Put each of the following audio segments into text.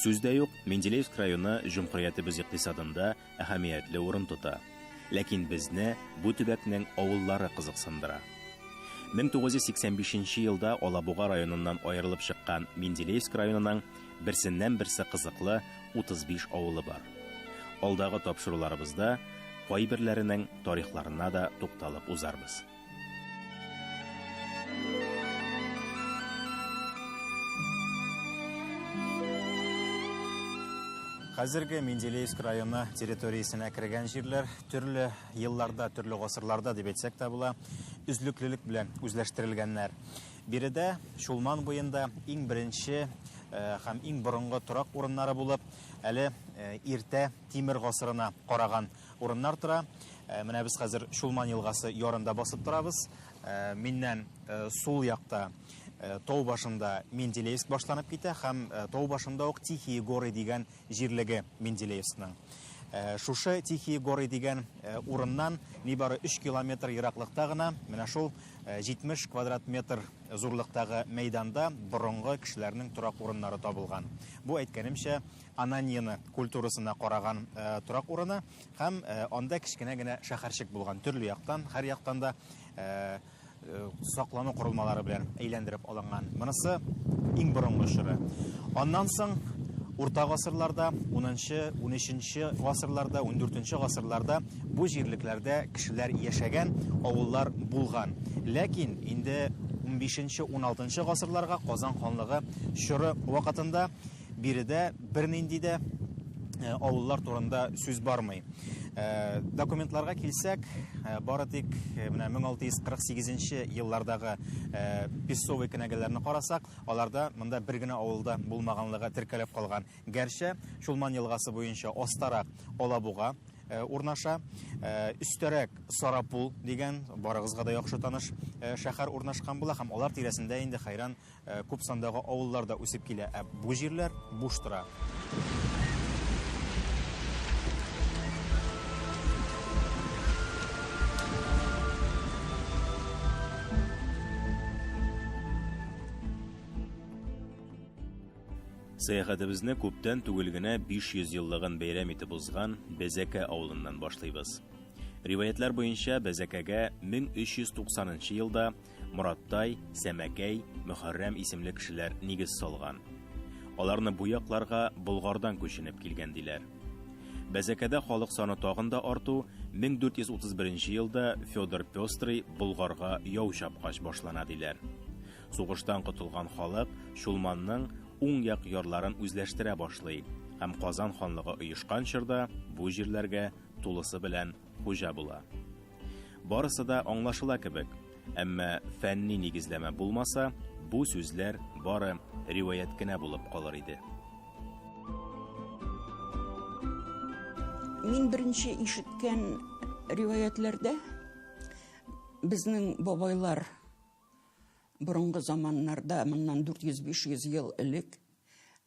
Сүз дә юк, Менделеевск районы җөмһүриятебез икътисадында әһәмиятле урын тота. Ләкин безне бу төбәкнең авыллары кызыксындыра. 1985 елда Алабуга районыннан аерылып чыккан Менделеевск районының берсеннән-берсе кызыклы 35 авылы бар. Алдагы тапшыруларыбызда кайберләренең тарихларына да тукталып узарбыз. Хәзерге Менделеевск районы территориясенә кергән җирләр төрле елларда, төрле гасырларда дип әйтсәк тә була, үзлеклелек белән үзләштерелгәннәр. Биредә Чулман буенда иң беренче һәм иң борынгы торак урыннары булып, әле иртә Тимер гасырына караган Урыннар тора. Э, менә без хәзер Чулман елгасы ярында басып торабыз. Э, миннән э, сул якта тау башында Менделеевск башланып китә һәм тау башында ук Тихие горы дигән җирлеге Менделеевскның. Шушы Тихие горы дигән урыннан нибары 3 километр ераклыкта гына менә шул 70 квадрат метр зурлыктагы мәйданда борынгы кешеләрнең торак урыннары табылган. Бу әйткәнемчә Ананьино культурасына караган торак урыны һәм анда кечкенә генә шәһәрчек булган. Төрле яктан, һәр яктан да саклану корылмалары белән әйләндереп алынган. Монысы иң борынгы чоры. Аннан соң урта гасырларда, 10-нчы, 13-нче гасырларда, 14-нче гасырларда бу җирлекләрдә кешеләр яшәгән, авыллар булган. Ләкин инде 15-нче, 16-нчы гасырларга Казан ханлыгы чоры вакытында Биредә бернинди дә э, авыллар турында сүз бармый. Э, документларга килсәк, э, бары тик менә 1648 еллардагы песовый кенәгәләрне карасак, аларда монда бер генә авылда булмаганлыгы теркәлеп калган. Гәрчә Чулман елгасы буенча астарак Алабуга Э, урнаша э, өстәрәк сарапул дигән барыгызга да яхшы таныш э, шәһәр урнашкан була һәм алар тирәсендә инде хәйран Ә күп сандагы авыллар да үсеп килә, ә бу җирләр буш тора. Сәяхәтебезне күптән түгел генә 500 еллыгын бәйрәм итеп узган Бәзәкә авылыннан башлыйбыз. Риваятлар буенча Бәзәкәгә 1390 елда Мораттай, Сәмәкәй, Мөхәррәм исемле кешеләр нигез салган. Аларны бу якларга Болгардан күченеп килгән диләр. Бәзәкәдә халык саны тагын да арту 1431 елда Федор Пестрый Болгарга яу чапкач башлана диләр. Сугыштан котылган халык Чулманның уң як ярларын үзләштерә башлый һәм Казан ханлыгы оешкан чорда бу җирләргә тулысы белән хуҗа була. Барысы да аңлашыла кебек, әмма фәнни нигезләмә булмаса, бу сүзләр бары риваять кенә булып калыр иде. Мин беренче ишеткән риваятләрдә безнең бабайлар борынгы заманнарда, моннан 400-500 ел элек,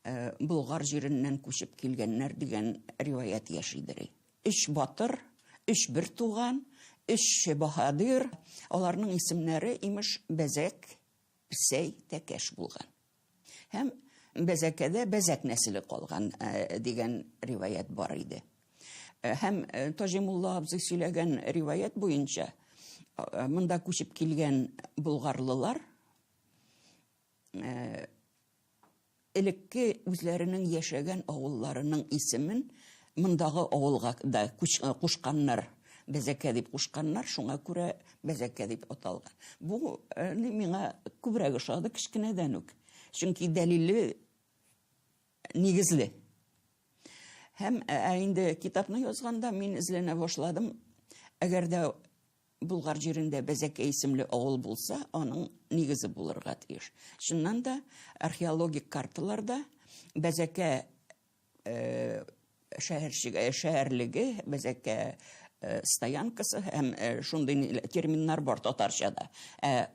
э, Болгар җиреннән күчеп килгәннәр дигән риваять яшидер. Өч батыр, өч бертуган, өч баһадир. Аларның исемнәре, имеш, Бәзәк, Песәй, Тәкәш булган. Һәм Бәзәкәдә Бәзәк нәселе калган дигән риваять бар иде. Һәм Таҗимулла абзый сөйләгән риваять буенча, монда күчеп килгән болгарлылар Элекке үзләренең яшәгән авылларының исемен мондагы авылга да кушканнар, Бәзәкә дип кушканнар, шуңа күрә Бәзәкә дип аталган. Бу ни миңа күбрәк ошады кечкенәдән үк, чөнки дәлилле, нигезле. Һәм, ә инде китапны язганда мин эзләнә башладым, әгәр дә Болгар җирендә Бәзәкәй исемле авыл булса, аның нигезе булырга тиеш. Чыннан да, археологик карталарда Бәзәкә шәһәрчеге, шәһәрлеге, Бәзәкә стоянкасы һәм шундый терминнар бар татарчада. Ә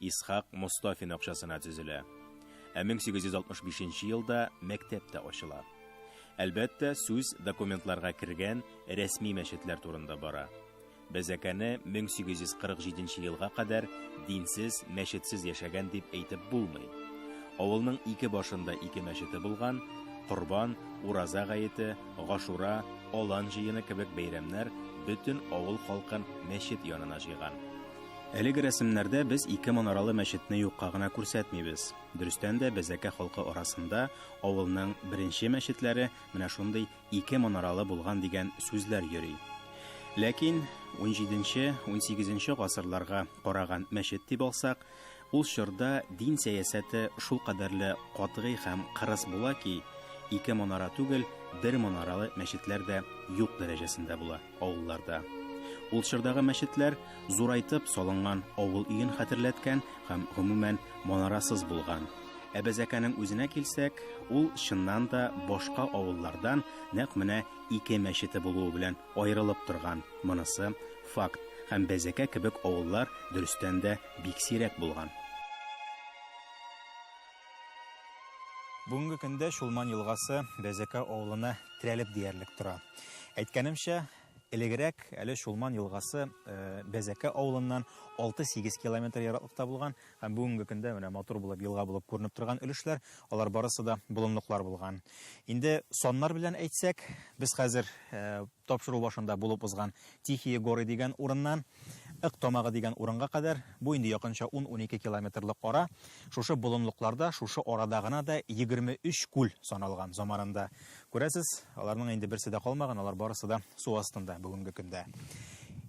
Исхак Мостафин акчасына төзелә. Ә 1865 нче елда мәктәп тә ачыла. Әлбәттә, сүз документларга кергән рәсми мәчетләр турында бара. Бәзәкәне 1847 елга кадәр динсез, мәчетсез яшәгән дип әйтеп булмый. Авылның ике башында ике мәчете булган, Корбан, Ураза гаете, Гашура, Алан җыены кебек бәйрәмнәр бөтен авыл халкын мәчет янына җыйган. Әлеге рәсемнәрдә без ике манаралы мәчетне юкка гына күрсәтмибез. Дөрестән дә, Бәзәкә халкы арасында авылның беренче мәчетләре менә шундый ике манаралы булган дигән сүзләр йөри. Ләкин унҗиденче-унсигезенче гасырларга караган мәчет дип алсак, Ул чорда дин сәясәте шулкадәрле катгый һәм кырыс була ки, ике манара түгел, бер манаралы мәчетләр дә юк дәрәҗәсендә була авылларда. Ул чордагы мәчетләр зурайтып салынган авыл өен хәтерләткән һәм, гомумән, манарасыз булган. Ә Бәзәкәнең үзенә килсәк, ул, чыннан да, башка авыллардан нәкъ менә ике мәчете булуы белән аерылып торган, монысы, факт, һәм Бәзәкә кебек авыллар, дөрестән дә, бик сирәк булган. Бүгенге көндә Чулман елгасы Бәзәкә авылына терәлеп диярлек тора. Әйткәнемчә, элегрәк әле Чулман елгасы Бәзәкә авылыннан 6-8 километр ераклыкта булган һәм бүгенге көндә менә матур булып елга булып күренеп торган өлешләр, алар барысы да болынлыклар булган. Инде саннар белән әйтсәк, без хәзер тапшыру башында булып узган Тихие горы дигән урыннан Ык тамагы дигән урынга кадәр, бу инде якынча ун-унике километрлык ара, шушы болынлыкларда, шушы арада гына да егерме өч күл саналган заманында. Күрәсез, аларның инде берсе дә калмаган, алар барысы да су астында бүгенге көндә.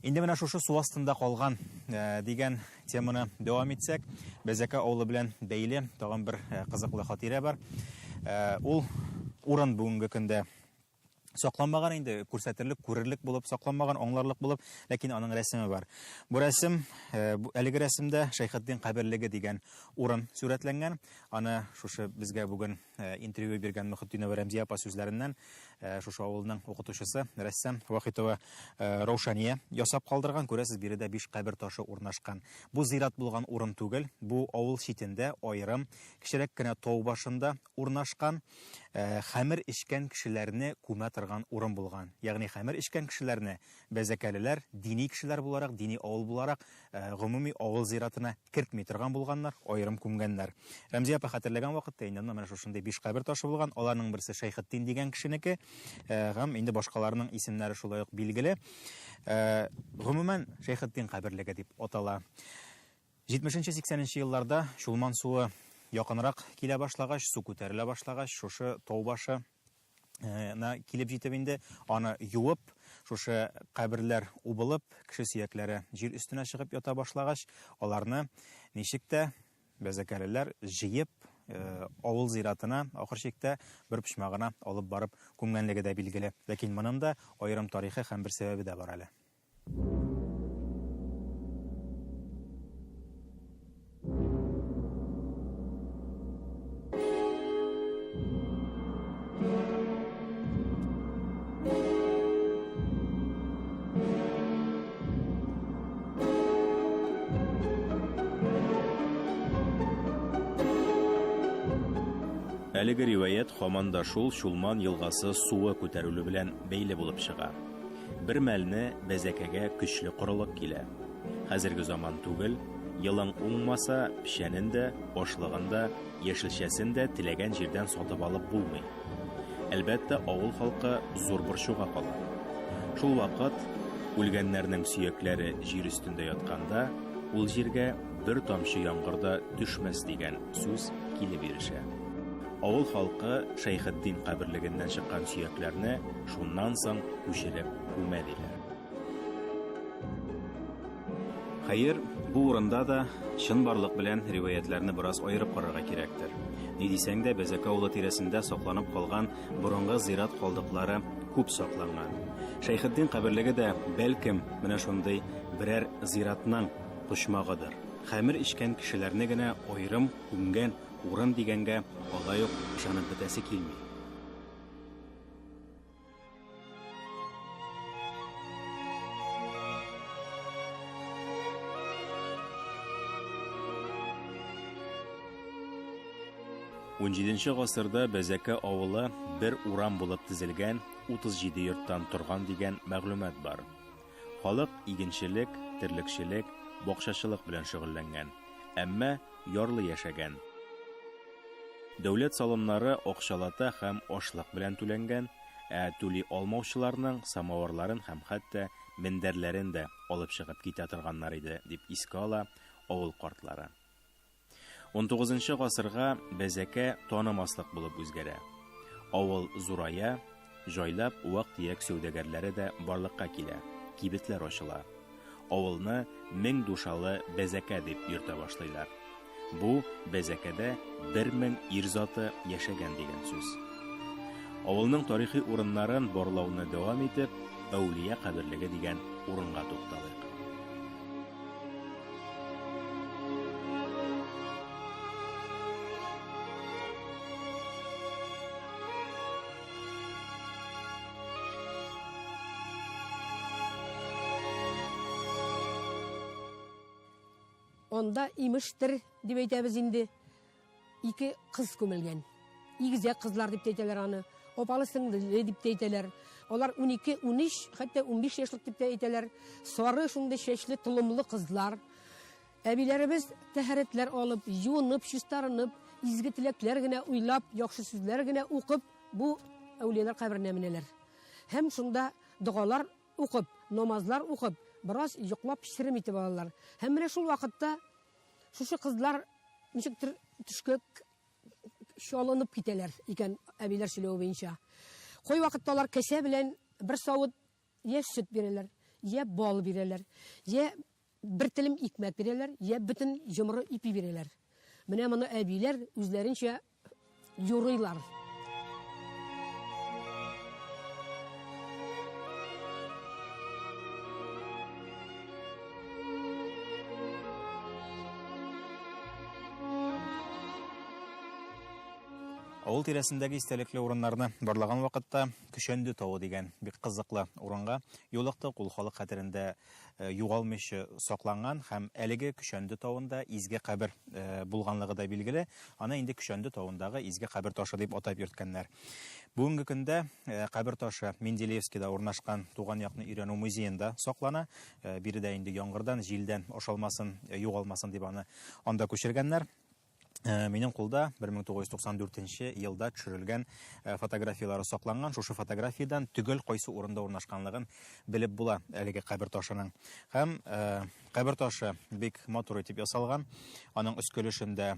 Инде менә шушы су астында калган дигән теманы дәвам итсәк, Бәзәкә авылы белән бәйле тагын бер кызыклы хатирә бар. Ул урын бүгенге көндә сакланмаган инде, күрсәтерлек, күрерлек булып, сакланмаган, аңларлык булып, ләкин аның рәсеме бар. Бу рәсем, э, әлеге рәсемдә Шәйхетдин каберлеге дигән урын сүрәтләнгән. Аны шушы безгә бүген э, интервью биргән Мөхетдинова Рәмзия апа сүзләреннән э, шушы авылның укытучысы, рәссам Вахитова Раушания ясап калдырган. Күрәсез, биредә биш кабер ташы урнашкан. Бу зират булган урын түгел, бу авыл читендә аерым, кечерәк кенә тау башында урнашкан. хәмер эчкән кешеләрне күмә торган урын булган. Ягъни хәмер эчкән кешеләрне бәзәкәлеләр дини кешеләр буларак, дини авыл буларак гомуми авыл зиратына кертми торган булганнар, аерым күмгәннәр. Рәмзия апа хәтерләгән вакытта инде анда менә шушындый биш кабер ташы булган, аларның берсе Шәйхетдин дигән кешенеке һәм инде башкаларның исемнәре шулай ук билгеле. Гомумән, Шәйхетдин каберлеге дип атала. Җитмешенче-сиксәненче елларда Чулман суы якынрак килә башлагач, су күтәрелә башлагач, шушы тау башы на килеп җитеп инде, аны юып, шушы каберләр убылып, кеше сөякләре җир өстенә чыгып ята башлагач, аларны ничек тә бәзәкәлеләр җыеп, авыл зиратына, ахыр чиктә, бер почмагына алып барып күмгәнлеге дә билгеле. Ләкин моның да аерым тарихы һәм бер сәбәбе дә бар әле. Әлеге риваять һаман да шул Чулман елгасы суы күтәрелү белән бәйле булып чыга. Бер мәлне бәзәкәгә көчле корылык килә. Хәзерге заман түгел, елың уңмаса, печәнен дә, ашлыгын да, яшелчәсен дә теләгән җирдән сатып алып булмый. Әлбәттә, авыл халкы зур борчуга кала. Шул вакыт, үлгәннәрнең сөякләре җир өстендә ятканда, ул җиргә бер тамчы яңгыр да төшмәс дигән сүз килеп ирешә. Авыл халкы Шәйхетдин каберлегеннән чыккан сөякләрне шуннан соң күчереп күмә диләр. Хәер, бу урында да чынбарлык белән риваятьләрне бераз аерып карарга кирәктер. Ни дисәң дә, Бәзәк авылы тирәсендә сакланып калган борынгы зират калдыклары күп сакланган. Шәйхетдин каберлеге дә, бәлкем, менә шундый берәр зиратның почмагыдыр. Хәмер эчкән кешеләрне генә аерым күмгән урын дигәнгә алай ук ышанып бетәсе килми. 17-нче гасырда Бәзәкә авылы бер урам булып тезелгән 37 йорттан торган дигән мәгълүмат бар. Халык игенчелек, терлекчелек, бакчачылык белән шөгыльләнгән. Әмма ярлы яшәгән. Дәүләт салымнары акчалата һәм ашлык белән түләнгән, ә түли алмаучыларның самавырларын һәм хәтта мендәрләрен дә алып чыгып китә торганнар иде, дип искә ала авыл картлары. Унтугызынчы гасырга бәзәкә танымаслык булып үзгәрә. Авыл зурая, Җайлап вак-төяк сәүдәгәрләре дә барлыкка килә, кибетләр ачыла. Авылны Мең душалы Бәзәкә дип йөртә башлыйлар. Бу Бәзәкәдә бер мең ир заты яшәгән дигән сүз. Авылның тарихи урыннарын барлауны дәвам итеп, Әүлия каберлеге дигән урынга тукталыйк. Анда имештер дип әйтәбез инде. Ике кыз күмелгән. Игезәк кызлар дип әйтәләр аны. Опалы сеңле дип әйтәләр. Алар 12, 13, хәтта 15 яшьлек дип әйтәләр. Сары шундый чәчле, толымлы кызлар. Әбиләребез тәһарәтләр алып, юынып, чистарынып, изге теләкләр генә уйлап, яхшы сүзләр генә укып, бу әүлияләр каберенә менәләр. Һәм шунда догалар укып, намазлар укып, бераз йоклап черем итеп алалар. Һәм менә шул вакытта шушы кызлар ничектер төшкә чалынып китәләр икән, әбиләр сөйләве буенча. Кой вакытта алар кәсә белән бер савыт я сөт бирәләр, я бал бирәләр, я Бер телем икмәк бирәләр, йә бөтен йомры ипи бирәләр. Менә моны әбиләр үзләренчә юрыйлар. Авыл тирәсендәге истәлекле урыннарны барлаган вакытта Көчәнде тавы дигән бик кызыклы урынга юлыктык. Ул халык хәтерендә югалмыйча сакланган һәм әлеге Көчәнде тавында изге кабер булганлыгы да билгеле. Аны инде Көчәнде тавындагы изге кабер ташы дип атап йөрткәннәр. Бүгенге көндә кабер ташы Менделеевскида урнашкан Туган якны өйрәнү музеенда саклана. Биредә инде яңгырдан, җилдән ашалмасын, югалмасын дип аны анда күчергәннәр. Э, минем кулда 1994 елда төшерелгән э, фотографияләре сакланган шушы фотографиядән төгәл кайсы урында урнашканлыгын белеп була әлеге кабер ташының һәм э, кабер ташы бик матур итеп ясалган аның өскелешендә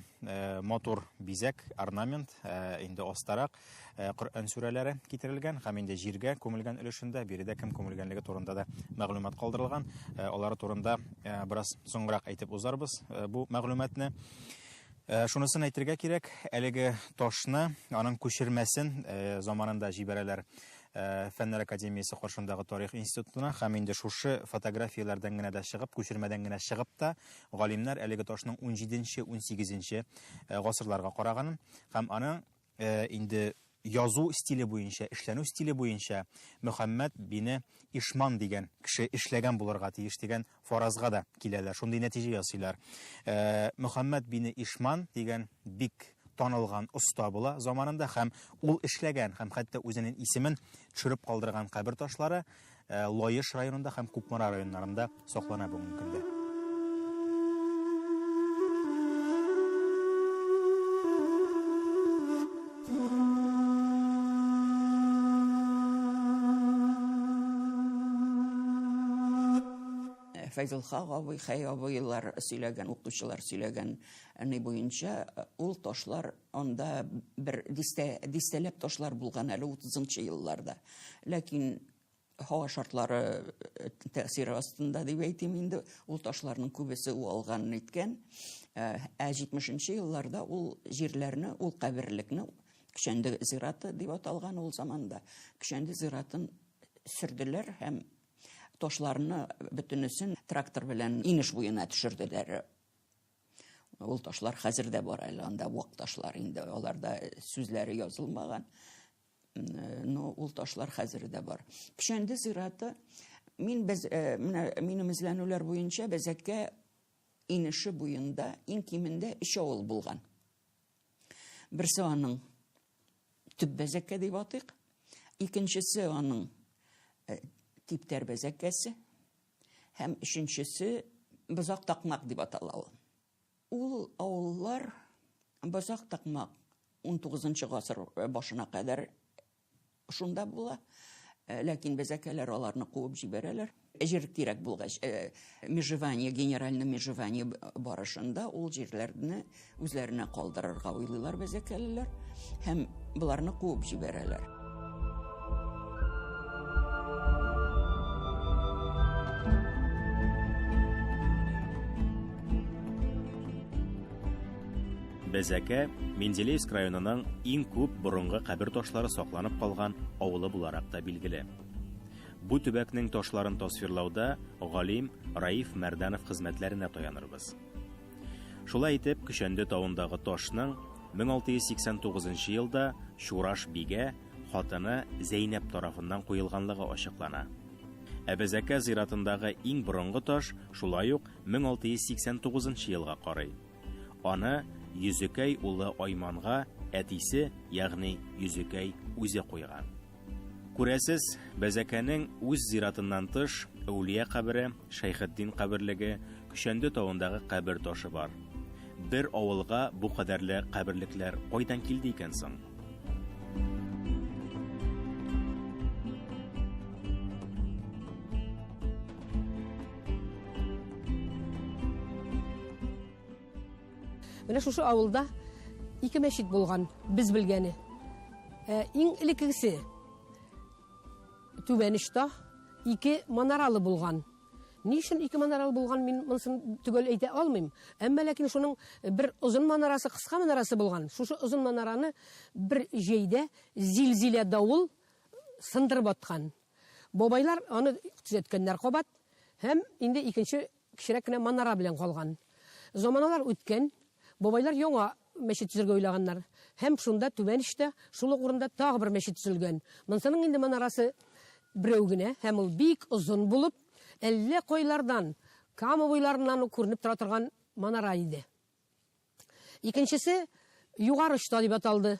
матур бизәк орнамент инде астарак э, Коръән сүрәләре китерелгән һәм инде җиргә күмелгән өлешендә биредә кем күмелгәнлеге турында да мәгълүмат калдырылган. Э, алары турында э, бераз соңрак әйтеп узарбыз бу мәгълүматны. Э, шунысын әйтергә кирәк, әлеге ташны, аның күчермәсен э, заманында җибәрәләр э, Фәннәр академиясе каршындагы тарих институтына һәм инде шушы фотографияләрдән генә дә чыгып, күчермәдән генә чыгып та, галимнәр әлеге ташның 17-18 гасырларга караганын һәм аның Инде язу стиле буенча, эшләнү стиле буенча Мөхәммәд бине Ишман дигән кеше эшләгән булырга тиеш дигән фаразга да киләләр, шундый нәтиҗә ясыйлар. Мөхәммәд бине Ишман дигән бик танылган оста була заманында һәм ул эшләгән һәм хәтта үзенең исемен төшереп калдырган кабер ташлары Э, Лаеш районында һәм Кукмара районнарында саклана бүгенге көндә. Э, Фәйзулха абый, Хәй абыйлар сөйләгән, укучылар сөйләгән ни буенча э, ул ташлар Анда бер дистә, дистәләп ташлар булган әле 30-нчы елларда. Ләкин һава шартлары э, тәэсире астында дип әйтим инде, ул ташларның күбесе уалган иткән. Э, ә 70-нче елларда ул җирләрне, ул каберлекне Кишәнде зираты дип аталган ул заманда. Кишәнде зиратын сөрделәр һәм ташларны бөтенесен трактор белән инеш буена төшерделәр. Ул ташлар хәзер дә бар әле анда вак ташлар инде аларда э, сүзләре язылмаган. Э, но ул ташлар хәзер дә бар. Печәнде зираты мин без э, менә минем эзләнүләр буенча Бәзәккә инеше буенда иң кимендә өч авыл булган. Берсе аның төп Бәзәккә дип атыйк. Икенчесе аның типтәр Бәзәккәсе. Һәм өченчесе Бозак Такмак дип атала ул. Ул авыллар Бозак Такмак 19 гасыр башына кадәр шунда була. Э, ләкин безәкәләр аларны куып җибәрәләр. Җир кирәк булгач, э, межевание, генеральный межевание барышында ул җирләрне Үзләренә калдырырга уйлыйлар бәзәкәлеләр һәм боларны куып җибәрәләр. Бәзәкә Менделеевск районының иң күп борынгы кабер ташлары сакланып калган авылы буларак та билгеле. Бу төбәкнең ташларын тасвирлауда галим Раиф Мәрданов хезмәтләренә таянырбыз. Шулай итеп, Көчәнде тавындагы ташның 1689 елда Чураш бигә хатыны Зәйнәп тарафыннан куелганлыгы ачыклана. Әбәзәкә зиратындагы иң борынгы таш шулай ук 1689 елга карый. Аны Йөзекәй улы Айманга әтисе, ягъни Йөзекәй үзе куйган. Күрәсез, Бәзәкәнең үз зиратыннан тыш, Әүлия кабере, Шәйхетдин каберлеге, Көчәнде тавындагы кабер ташы бар. Бер авылга бу кадәрле каберлекләр кайдан килде икән соң? Менә шушы авылда ике мәчет булган, без белгәне. Ә, иң элеккесе Түбәнештә ике манаралы булган. Ни өчен ике манаралы булган, мин монысын төгәл әйтә алмыйм. Әмма ләкин шуның бер озын манарасы, кыска манарасы булган. Шушы озын манараны бер җәйдә зилзилә давыл сындырып аткан. Бабайлар аны төзәткәннәр кабат һәм инде икенче Кечерәк кенә манара белән калган. Заманалар үткән, бабайлар яңа мәчет төзергә уйлаганнар. Һәм шунда, түбән эчтә, шул ук урында тагы бер мәчет төзелгән. Монсының инде манарасы берәү генә, һәм ул бик озын булып, әллә кайлардан, Кама буйларыннан ук күренеп тора торган манара иде. Икенчесе Югары очта дип аталды.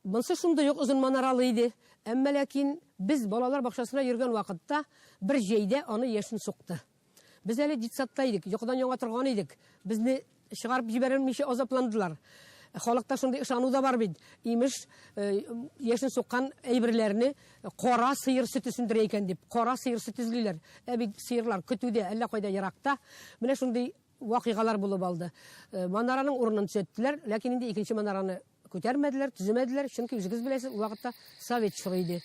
Монсы шундый ук озын манаралы иде. Әмма ләкин без балалар бакчасына йөргән вакытта бер җәйдә аны яшен сукты. Без әле детсадта идек, йокыдан яңа торган идек. Безне чыгарып җибәрелмичә азапландылар. Халыкта шундый ышану да бар бит, имеш, яшен суккан әйберләрне кара сыер сөте сүндерә икән дип, кара сыер сөте эзлиләр. Ә бит сыерлар көтүдә, әллә кайда еракта. Менә шундый. Вакыйгалар булып алды. Манараның урынын төзәттеләр, ләкин инде икенче манараны күтәрмәделәр, төземәделәр, чөнки үзегез беләсез, ул вакытта совет чоры иде.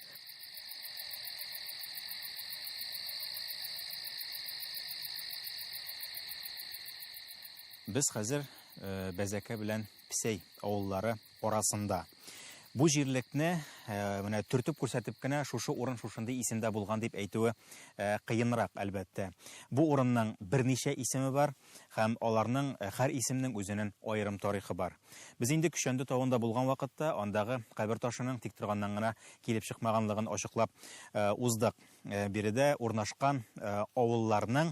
Без хәзер Бәзәкә белән Псәй авыллары арасында. Бу җирлекне менә төртеп күрсәтеп кенә шушы урын шушындый исемдә булган дип әйтүе кыенрак, әлбәттә. Бу урынның берничә исеме бар һәм аларның һәр исемнең үзенен аерым тарихы бар. Без инде Көчәнде тавында булган вакытта андагы кабер ташының тик торганнан гына килеп чыкмаганлыгын ачыклап уздык. Э, биредә урнашкан э, авылларның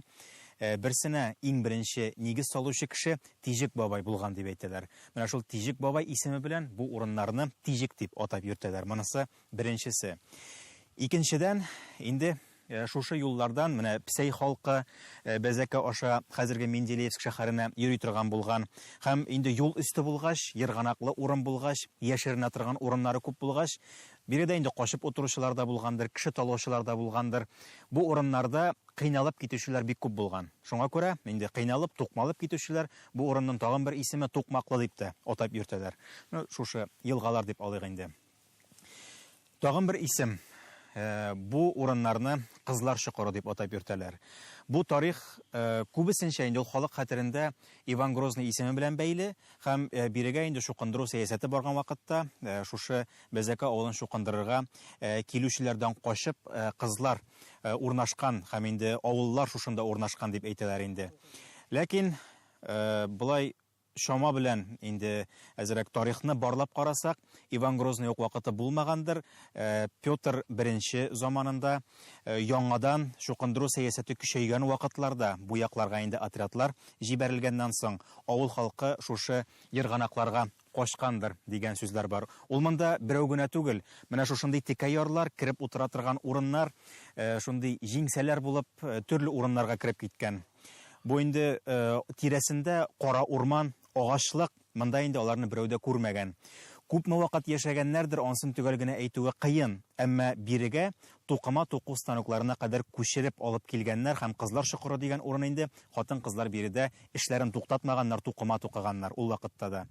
э, берсенә иң беренче нигез салучы кеше Тижик бабай булган дип әйтәләр. Менә шул Тижик бабай исеме белән бу урыннарны Тижик дип атап йөртәләр. Монысы беренчесе. Икенчедән, инде шушы юллардан менә Псәй халкы Бәзәкә аша хәзерге Менделеевск шәһәренә йөри торган булган. Һәм инде юл өсте булгач, ерганаклы урын булгач, яшеренә торган урыннары күп булгач, Биредә инде качып утыручылар да булгандыр, кеше талаучылар да булгандыр. Бу урыннарда кыйналып китүчеләр бик күп булган. Шуңа күрә инде кыйналып, тукмалып китүчеләр бу урынның тагын бер исеме Тукмаклы дип тә атап йөртәләр. Ну, шушы елгалар дип алыйк инде. Тагын бер исем, бу урыннарны Кызлар чокыры дип атап йөртәләр. Бу тарих күбесенчә инде ул халык хәтерендә Иван Грозный исеме белән бәйле, Һәм бирегә инде чукындыру сәясәте барган вакытта, шушы Бәзәкә авылын чукындырырга килүчеләрдән качып, кызлар урнашкан һәм инде авыллар шушында урнашкан дип әйтәләр инде. Ләкин болай чама белән инде әзерәк тарихны барлап карасак, Иван Грозный ук вакыты булмагандыр, Петр I заманында Яңадан чукындыру сәясәте көчәйгән вакытларда бу якларга инде отрядлар җибәрелгәннән соң, авыл халкы шушы ерганакларга качкандыр, дигән сүзләр бар. Ул монда берәү генә түгел. Менә шушындый текә ярлар, кереп утыра торган урыннар, шундый җиңсәләр булып, төрле урыннарга кереп киткән. Бу инде тирәсендә кара урман, агачлык. Монда инде аларны берәү дә күрмәгән. Күпме вакыт яшәгәннәрдер, ансын төгәл генә әйтүе кыен. Әмма бирегә тукыма туку станокларына кадәр күчереп алып килгәннәр һәм Кызлар чокыры дигән урын инде, хатын-кызлар биредә эшләрен туктатмаганнар, тукыма тукыганнар ул вакытта да.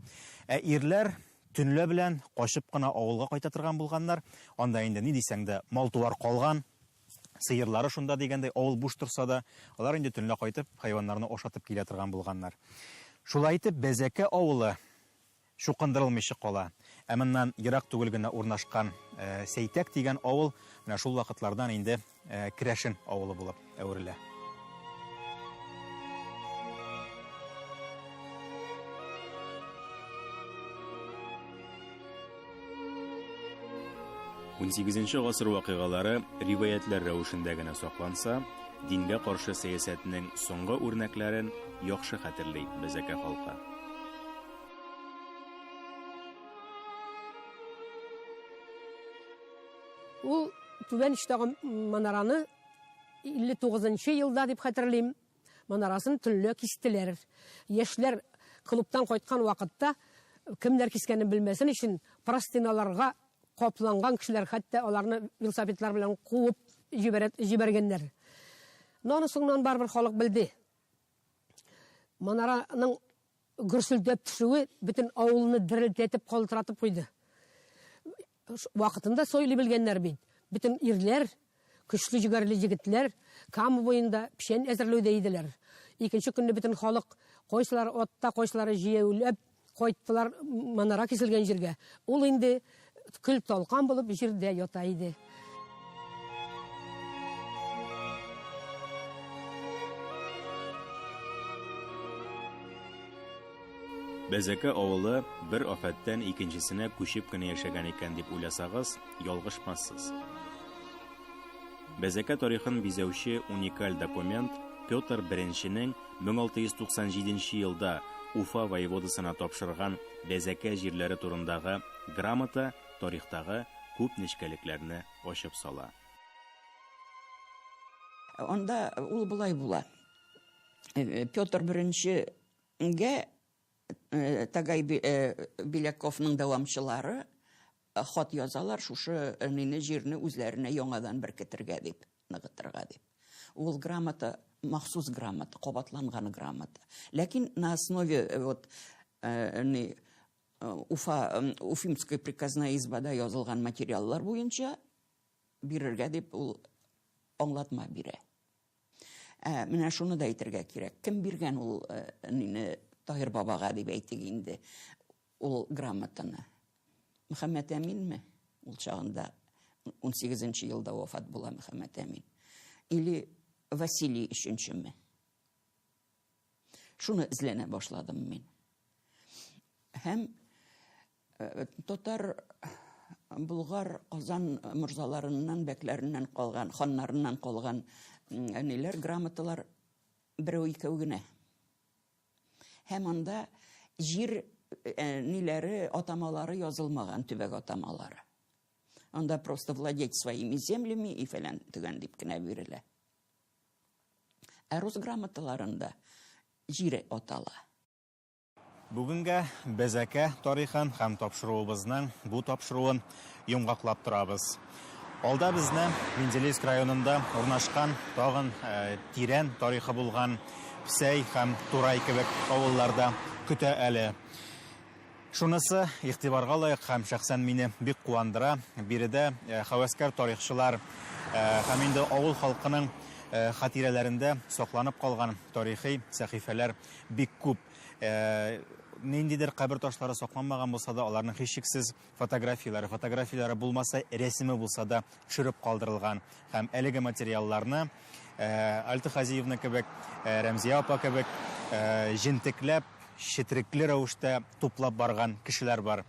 Ә ирләр төнлә белән качып кына авылга кайта торган булганнар. Анда инде ни дисәң дә, мал-туар калган. Сыерлары шунда дигәндәй, авыл буш торса да, алар инде төнлә кайтып, хайваннарны ашатып килә торган булганнар. Шулай итеп, Бәзәкә авылы чукындырылмыйча кала. Ә моннан ерак түгел генә урнашкан Сәйтәк дигән авыл менә шул вакытлардан инде керәшен авылы булып әверелә. 18 гасыр вакыйгалары риваятьләр рәвешендә генә сакланса, дингә каршы сәясәтнең соңгы үрнәкләрен яхшы хәтерли безәкә халкы. Ул түбән эчтәге манараны 59 елда дип хәтерлим, Манарасын төнлә кистеләр. Яшьләр клубтан кайткан вакытта кемнәр кискәнен белмәсен өчен простыналарга капланган кешеләр хәтта аларны велосипедлар белән куып җибәргәннәр. Но аны соңнан барыбер халык белде. Манараның Гөрселдәп төшүе бөтен авылны дерелдәтеп калтыратып куйды. Вакытында сойлый белгәннәр бит. Бөтен ирләр, көчле җегәрле егетләр Кама буенда печән әзерләүдә иделәр. Икенче көнне бөтен халык, кайсылары атта, кайсылары җәяүләп кайттылар манара киселгән җиргә. Ул инде. Көл-талкан булып җирдә ята иде. Бәзәкә авылы бер афәттән икенчесенә күчеп кенә яшәгән икән дип уйласагыз, ялгышмассыз. Бәзәкә тарихын бизәүче уникаль документ Петр I-нең 1697 нче елда Уфа воеводасына тапшырган Бәзәкә җирләре турындагы грамота тарихтагы күп нечкәлекләрне ачып сала. Анда ул болай була, Петр I гә Тагай Беляковның дәвамчылары Хат язалар шушы мине җирне үзләренә яңадан беркетергә дип, ныгытырга дип. Ул грамота, махсус грамота, кабатланган грамота. Ләкин на основе э, вот э, не э, Уфа Уфимская приказная избада язылган материаллар буенча бирергә дип ул аңлатма бирә. Ә менә шуны да әйтергә кирәк. Кем биргән ул әнине э, Таһир бабага дип әйтик инде ул грамотаны? Мөхәммәт Әминме? Ул чагында 18 елда вафат була Мөхәммәт Әмин. Или Василий өченчеме? Шуны эзләнә башладым мин. Һәм Татар, Болгар, Казан морзаларыннан, бәкләреннән калган, ханнарыннан калган ниләр, грамоталар берәү-икәү генә. Һәм анда җир ниләре, атамалары язылмаган, төбәк атамалары. Анда просто владеть своими землями и фәлән төгән дип кенә бирелә. Ә рус грамоталарында җире атала. Бүгенгә Бәзәкә тарихын һәм тапшыруыбызның бу тапшыруын йомгаклап торабыз. Алда безне Менделеевск районында урнашкан тагын э, тирән тарихы булган Псәй һәм Турай кебек авылларда көтә әле. Шунысы игътибарга лаек һәм шәхсән мине бик куандыра. Биредә э, хәвәскәр тарихчылар э, һәм инде авыл халкының э, хатирәләрендә сакланып калган тарихи сәхифәләр бик күп. Э, ниндидер кабер ташлары сакланмаган булса да, аларның һичшиксез фотографияләре, фотографияләре булмаса, рәсеме булса да төшереп калдырылган. Һәм әлеге материалларны э, Альта Хазиевна кебек, э, Рәмзия апа кебек җентекләп, четрекле рәвештә туплап барган кешеләр бар.